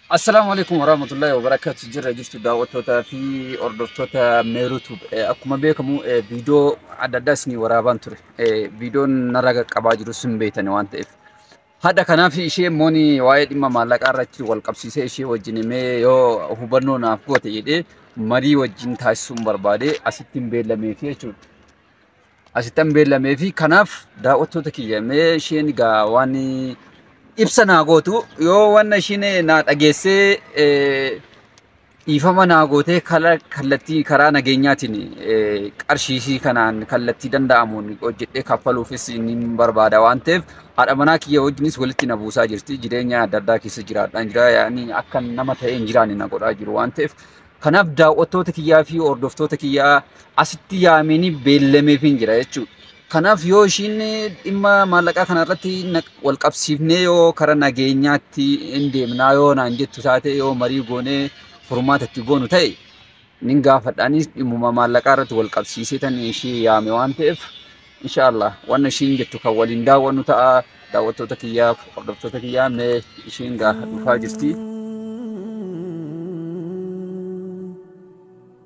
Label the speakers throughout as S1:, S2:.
S1: Assalaamu alaikum warahmatullahi wabarakatuh jirra jirtu daawwattootaa fi hordoftoota meeruutuub akkuma beekamu eh, viidiyoo adda addaa isinii waraabaan ture Eh, viidiyoon narra qaqqabaa jiru sin beeytani waan ta'eef Hadha kanaaf ishee immoo waa'ee dhimma maallaqaa irratti wal qabsiisee ishee wajjin himee yoo hubannoo naaf goote jedhee marii wajjin taasisuun barbaade asitti hin beellamee fi jechuudha. Asitti hin beellamee fi kanaaf daawwattoota kiyya mee isheen egaa waan ibsa naa gootu yoo waan isheen naa dhageessee Dhiifama naa gootee kala kallattii karaa nageenyaatiin eh, qarshiishii kanaan kallattii danda'amuun hojjedhee kaffaluufis nin barbaada waan ta'eef haadha manaa kiyya wajjinis walitti na buusaa jirti. Jireenya adda addaa keessa jiraadhaan jira. Yaani akka nama ta'ee hin jiraanne na godhaa jiru waan ta'eef kanaaf daawwattoota kiyyaa fi hordoftoota kiyyaa asitti yaameenii beellameefiin jira jechuudha. Kanaaf yoo ishiin dhimma maallaqaa kana irratti wal qabsiifnee yoo karaa nageenyaatti hin deemnaa yoo naan jettu taate yoo marii goonee furmaata itti goonu ta'e nin gaafadhaanis dhimmuma maallaqaa irratti wal qabsiisee tan ishii yaame waan ta'eef inshaallah waan ishiin jettu kan waliin daawwannu ta'a daawwattoota kiyyaaf hordoftoota kiyyaa mee ishiin gaafa dhufaa jirti.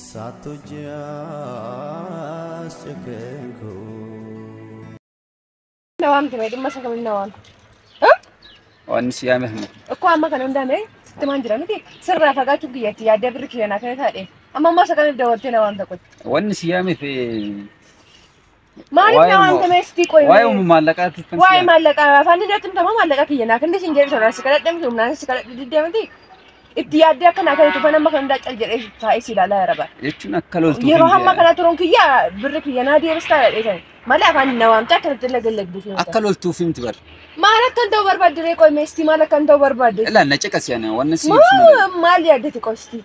S2: Saattu ji'aas cekkeen koo.
S3: Nawaan ture dhimma isa kamiin nawaan.
S1: Waan si yaame hin Akkoo amma kan hundaame
S3: sitti maan jira miti sirraa fagaachuuf kiyyatti yaadee birri kiyya naa kenna taadhe amma ammoo isa kamiif dabaltee nawaan tokkotti. Waan si yaame fi Maaliif Waa'ee naa waan immoo- ta'e sitti qo'e? Waa'ee umu maallaqaatti
S1: kan Waa'ee si'a. maallaqa
S3: afaan inni natti himtama maallaqa kiyya naa kenni siin jedhe sana si kadhadhe miti humnaan si kadhadhe diddee miti. Itti yaaddee akka naa kennitu kan amma kan hundaa cal jedhee taa'ee si ilaalaa yaa rabaa. Jechuun akka loltuu Yeroo
S1: hin hamma jedhan. kana turuun
S3: kiyya birri kiyya naa deebistaa jedhee sana. Malee afaan na waamtee akkanatti illee gallagduu fi Akka loltuuf himti bar.
S1: Maal akkan ta'u
S3: barbaadde ree qo'e meestii maal akkan ta'u barbaadde? Ilaa na caqasi ani
S1: waan si ibsu malee. Moo maal yaaddati
S3: qosti?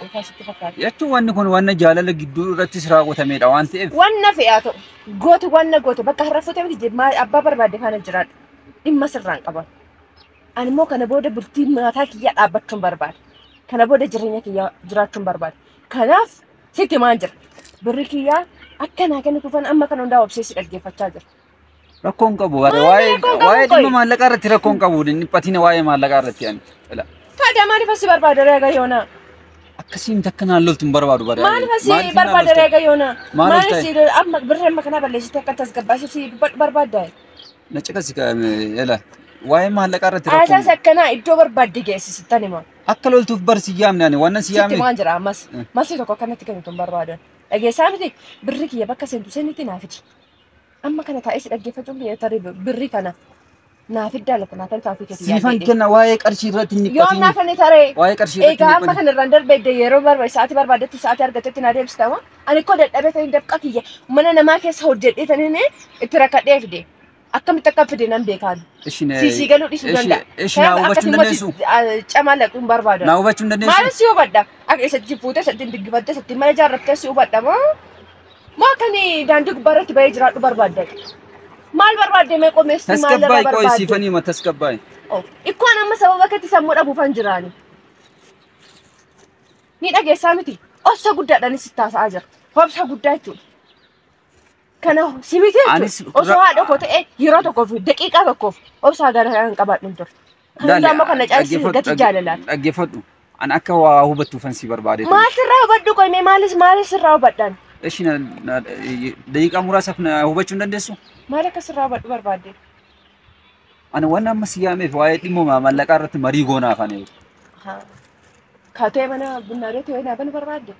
S3: Gooftaa sitti fakkaata. Jechuun wanni kun wanna
S1: jaalala gidduu irrattis raawwatameedha waan ta'eef. Wanna fe'aa ta'u.
S3: Gooti wanna goote bakka har'a fuute miti jib- maa- abbaa barbaadde faana jiraadhu. Dhimma sirraan qaban. Ani immoo kana booda bultii mataa kiyyaa dhaabbachuun barbaada. Kana booda jireenya kiyyaa jiraachuun barbaada. Kanaaf sitti himaan jira. Birri kiyyaa akka naa kennituufan amma kana hundaa obsee si dhaggeeffachaa jira. Rakkoon
S1: qabu waa'ee waa'ee dhimma maallaqaa irratti rakkoon qabu dhiphatina waa'ee maallaqaa irratti ani. Tadaa maaliif asii
S3: barbaada reega yoona? Akkasiin
S1: takka naan loltu hin barbaadu bara. Maaliif asii barbaada
S3: reega yoona? Maaliif asii amma birra amma kana balleessitee akka tasgabbaasee si dubbadhu barbaadda? Na caqasi
S1: ela waa'ee maallaqaa irratti rakkoon. Haasaas akkanaa iddoo
S3: barbaadde geessisitan hima. Akka loltuuf bar si
S1: yaamne ani waan si Sitti yaamne. waan jira ammas
S3: masii tokko akkanatti kennitu hin barbaadu. Dhageessaa miti birri kiyya bakka seentu seenitti naa fidi. Amma kana taa'ee si dhaggeeffachuun biyya tarii birri kana naa fiddaa lafa naa toltaa fi keetii Siifan kenna waa'ee
S1: qarshii irratti hin Yoom naa dhiphatiin. kan taree
S3: Waa'ee qarshii irratti egaa hin amma
S1: dhiphatiin. kana irraan darbeedde
S3: yeroo barbaade sa'aatii barbaadetti sa'aatii argatetti naa deebistama. Ani koo dadhabee ta'in dafqa kiyya mana namaa keessa hojjedhee ta'in itti rakkadhee fide. Akkamitti akka fide nan beekaan. Ishi na- Siisii galuu dhiisuu ishi- danda'a. ishi naa Kanaaf hubachuu akkasii
S1: hin immoo si- dandeessu? ah, camaa laquu hin
S3: barbaadu. Naa hubachuu hin dandeessu? Maaliif si
S1: hubadha? Akka
S3: isatti fuutee isatti hin diggifattee isatti mana ijaarrattee si hubadha moo? Maa kan daandii gubbaa irratti bahee jiraadhu barbaaddan? Maal barbaadde mee qomeessi maal irraa Tasgabbaa'e qo'e barbaadde? siifanii hima tasgabbaa'e.
S1: Oh, Ikkoon amma
S3: sababa keetti sammuu dhabuufan jiraani. Ni dhageessaa miti. Obsa guddaadhaanis itti haasa'aa jira. Obsa guddaa jechuudha. Kana si miti jechuudha. Anis Osoo ra- haadha koo ta'e yeroo tokkoof daqiiqaa tokkoof obsa gara kan qabaadhu hin ture. Kan hundaa immoo kan na caalchise gati jaalalaati. Dhaggeeffadhu. An
S1: akka waa hubattuufan si barbaade. Maal sirraa hubadhu qoy
S3: mee maalis maalis sirraa hubadhaan. Eshi na na-
S1: daqiiqaa muraasaaf na hubachuu hin dandeessu? Maal akka sirraa hubadhu
S3: barbaadde?
S1: Ani waan amma si yaameef waa'ee dhimma mallaqaa irratti marii goonaa afaan Haa.
S3: Kaatee mana bunnaa beetii wayii naa banu barbaadde?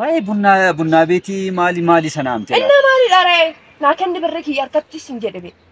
S3: Waa'ee
S1: bunnaa bunnaa beetii maali maali sana amtee? Innaa maalidha ree?
S3: Naa kenni birri kiyya harkatti sin jedhe bee.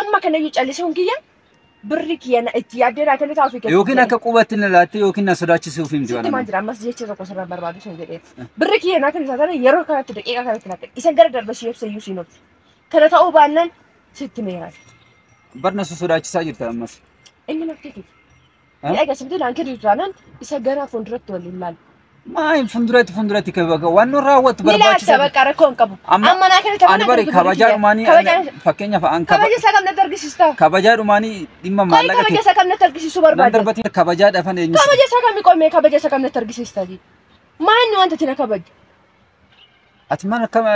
S3: Amma kanayyuu callisuun kiyya birri kiyya na- itti yaaddee naa kennitaa ofii keetti Yookiin jedhe. akka qubaatti na
S1: laattee yookiin na sodaachisuuf hin Sitti maan jira ammas jecha
S3: tokko sirraa barbaadu sun jedhee. Birri kiyya naa kennitaa tana yeroo kanatti daqiiqaa kanatti naa kenni. Isa gara darbe si ibsa iyyuu siin obse. Kana ta'uu baannaan sitti meeraati. Barna su
S1: sodaachisaa jirta ammas. Inni makkee kiyya.
S3: Ni agarsiisa bitee laankii jiru taanaan isa gara fuulduratti waliin laala. Maayin funduratti
S1: funduratti wanno raawwattu Ni laalta bakka rakkoo
S3: hin qabu. Amma naa kana taphana ani bari kabajaa dhumaanii
S1: fakkeenyaaf an kabaja isaa kam natti argisiista.
S3: Kabajaa dhumaanii
S1: dhimma maallaqa kabaja isaa kam natti argisiisu
S3: barbaada. Nan darbatiin kabajaa dhafan
S1: eenyu. Kabaja isaa kam qoomee kabaja
S3: isaa kam natti argisiista. Maanni wanta tina kabaju.
S1: Ati maal akkam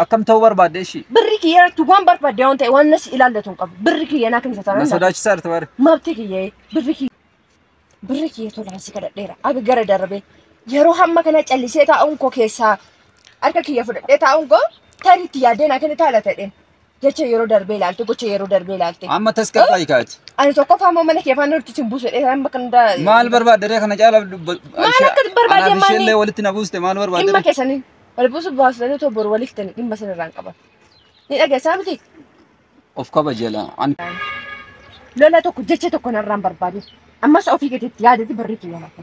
S1: akkam ta'uu barbaadde ishii? Birri kiyya irratti waan
S3: barbaadde waan ta'e waan nas ilaallatu hin qabu. Birri kiyya naa kenna Na taanaan sodaachisaa jirti baare.
S1: mabti kiyya birri
S3: kiyya birri kiyya tolaan si kadhadheera aga gara darbee yeroo hamma kana callisee taa'uun koo keessaa harka kiyya fudhadhee taa'uun koo tarii itti yaaddee naa kenni taala ta'een Jecha yeroo darbee ilaalte, gocha yeroo darbee ilaalte. Amma tasgabbaa'ii kaati.
S1: Ani tokkoffaa immoo mana
S3: kee faana nuti sin buusu jedhee isaan bakka hundaa. Maal barbaadda ree
S1: kana caalaa dubba- Maal ishee- akka
S3: barbaadde anaaf maali? isheellee walitti na buuste maal
S1: barbaadda Dhimma ree? keessanii wal
S3: buusuuf baasanii otoo boru waliif ta'anii dhimma sana irraan qaban. Ni dhageessaa miti? Of
S1: kabajala. Ani
S3: Lola tokko jecha tokko narraan barbaadin. Ammas ofii keetiitti yaadati barreetti yaalatta.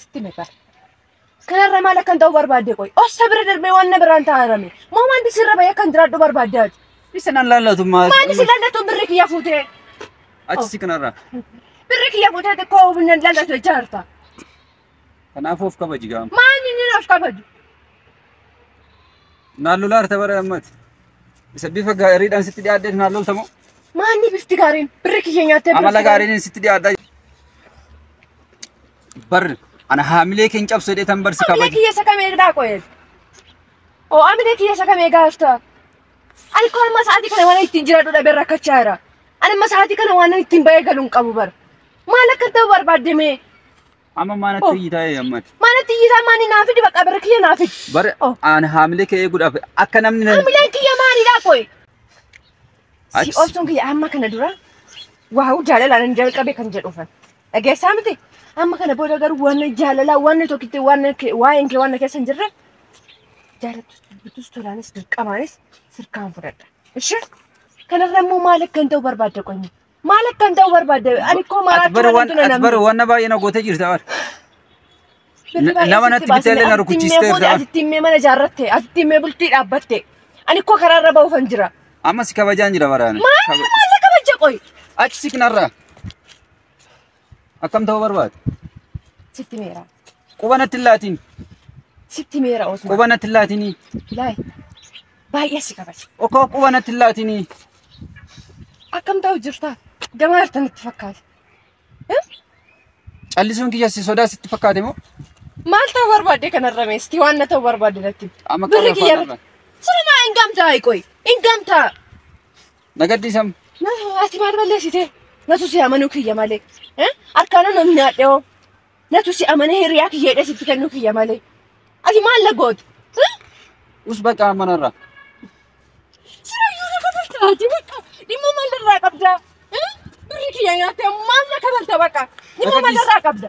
S3: Sitti na qara. Kanarra maal akkan ta'u barbaadde qoy. Ossa bira darbee waan na biraan taa'arame. Moo wanti sirra bahee akkan jiraadhu barbaadde ati. Isa nan laallatu
S1: maal? Maali si lallatu birri
S3: kiyya fuutee. Achi si
S1: kanarraa. Birri kiyya
S3: fuutee xiqqoo humna lallatu jecha harta.
S1: Kanaafuu of kabaji gaama. Maal inni naaf kabaju. Naan lolaa harta bara ammati. Isa bifa gaariidhaan sitti dhiyaaddeef naan lolta moo? Maanni bifti
S3: gaariin birri kiyya nyaattee Amala birri gaariin sitti
S1: dhiyaadhaa. Bar ana haamilee keen cabsu jedhee tan barsi Amina kabaja. kiyya sakame egaa qoye.
S3: Oo amina kiyya sakame egaa hafta. Ani koo amma sa'aatii kana waan ittiin jiradhu dhabee rakkachaa jira. Ani amma sa'aatii kana waan ittiin ba'ee galuun qabu bara. Maal akka ta'u barbaadde mee? Amma maana
S1: Oh. tiyyi taa'ee ammati. Mana tiyyisaa maani naa
S3: fidi bakka birri kiyya naa fidi. Bara Oh. aan
S1: haamilee kee eeguudhaaf akka namni na- Hamileen kiyya maalidhaa
S3: qoy? Si Achi- obsuun kiyya amma kana dura waa'u jaalalaan hin jalqabe kan jedhu fan. Dhageessaa miti? Amma kana booda garuu waan jaalalaa waan tokkitti waan waa'een kee waan na keessa hin jirre jaalattus dubbitus tolaanis dirqamaanis sirkaan fudhadha. Ishee kanarra immoo maal akka hin ta'u barbaadda qoy? Maal akkan ta'u barbaadde? Ani koo Ati maraachuu bara waan waan ati bara namni. waan na baay'ee na
S1: gootee jirta bara. Birri baay'ee nama sitti natti baasne. bitee illee na Asitti rukuchiistee himmee fuute, irraa. Asitti himmee mana ijaarratte.
S3: Asitti himmee bultii dhaabbatte. Ani koo karaa
S1: irra
S3: ba'uufan jira. Amma si kabajaan
S1: jira
S3: bara. ani. Maal
S1: Kaba-
S3: maal na kabaja qoy? Achi si
S1: kanarraa. Akkam ta'uu barbaada? Sitti
S3: meera. Quba natti hin laatiin.
S1: Sitti
S3: meera Osman. Quba natti hin laatinii.
S1: Laay.
S3: Baay'ee si kabaja. Okkoo quba natti hin
S1: laatinii.
S3: Akkam ta'u jirtaa? Gamaa jirtan itti fakkaate.
S1: Callisuun kiyya si sodaa sitti fakkaate moo? Maal ta'u
S3: barbaadde kanarra meestii waan na ta'u barbaadde natti. Amma Birri qabla kiyya faana
S1: irratti. Siruma
S3: hin
S1: gamtaa
S3: qoy. Hin gamtaa. Na
S1: gadhiisam. Na ati
S3: maal balleessite? Natu si amanuu kiyya malee. Eh? Harkaana na nyaadheoo. Natu si amane hiriyaa kiyya hidhee sitti kennuu kiyya malee. Ati maal na goote? Eh?
S1: Us baqa manarra.
S3: Siraayyuu na kabalta ati baqa. Dhimma maal irraa qabda? Eh? Birri kiyya nyaattee maal na kabalta baqa? Dhimma maal irraa qabda?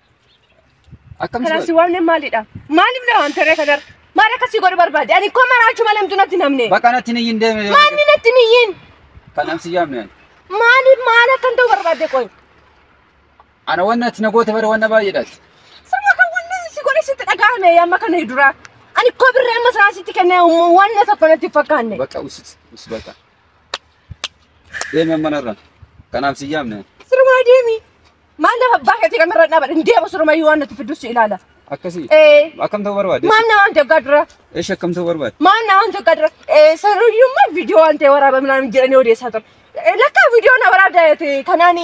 S1: Akkam Kanas si waamne maalidha?
S3: Maaliif na waamte ree kadar? Maal akka si godhu barbaade? Ani koo maraachuu malee mtu natti namne. Bakka natti ni hin deeme.
S1: Maanni natti niyyiin?
S3: Kanaan si yaamne.
S1: Maaliif maal
S3: akkan ta'u barbaadde qoy?
S1: Ana wanna ati na goote bara wanna baay'eedhaati. Sama kan wanna
S3: si godhe sitti dhaga'ame amma kana dura. Ani koo birree amma isaa sitti kenne wanna tokko natti hin fakkaanne. Bakka usis us
S1: bakka. Deeme manarra. Kanaan si yaamne. Siruma deemi.
S3: Maal lafa abbaa keetii kan irra dhaabadha hin deemu sirumayyuu waan nuti fiddus si ilaala. Akkasii. Ee
S1: Akkam ta'uu
S3: barbaade? maal na
S1: waan jaggaa dura
S3: Eesh akkam ta'uu barbaade?
S1: maal na waan jaggaa dura
S3: ee saruyyummaa viidiyoo waan ta'e waraaba midhaan jedhanii odeessaa turan. Ee, Lakkaa viidiyoo na waraabda jeete kanaan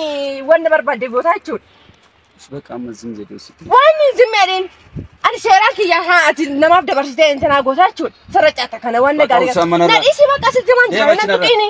S3: waan na barbaadde gootaa jechuudha. Bakka amma
S1: zim jedhee sitti. Waan zim jedheen
S3: ani seeraa kiyya haa ati namaaf dabarsitee intanaa gootaa jechuudha. Sarara caata kana waan na Bakka gaarii. usaa mana Na irraa- dhiisii bakka sitti waan Deema jira na cinarraa. tuqiini.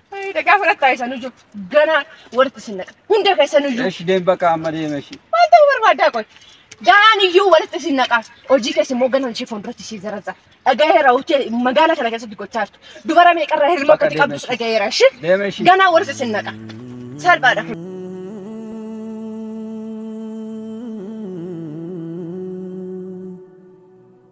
S1: Dhaqaa fudhattaa
S3: isa nuju ganaa walitti sin naqa. Hunda keessa nuju. Eshi deem bakka amma deema
S1: eshi. Maal ta'uu barbaaddaa qoy?
S3: Ganaan iyyuu walitti sin naqa. Hojii keessa immoo ganaan ishee fuulduratti ishee zarazza. Dhagaheera hojii magaala kana keessatti gochaa jirtu. Dubara meeqarraa hirma akkati qabdus
S1: dhagaheera
S3: ishi. Deema eshi. Ganaa walitti sin naqa. Salphaadha.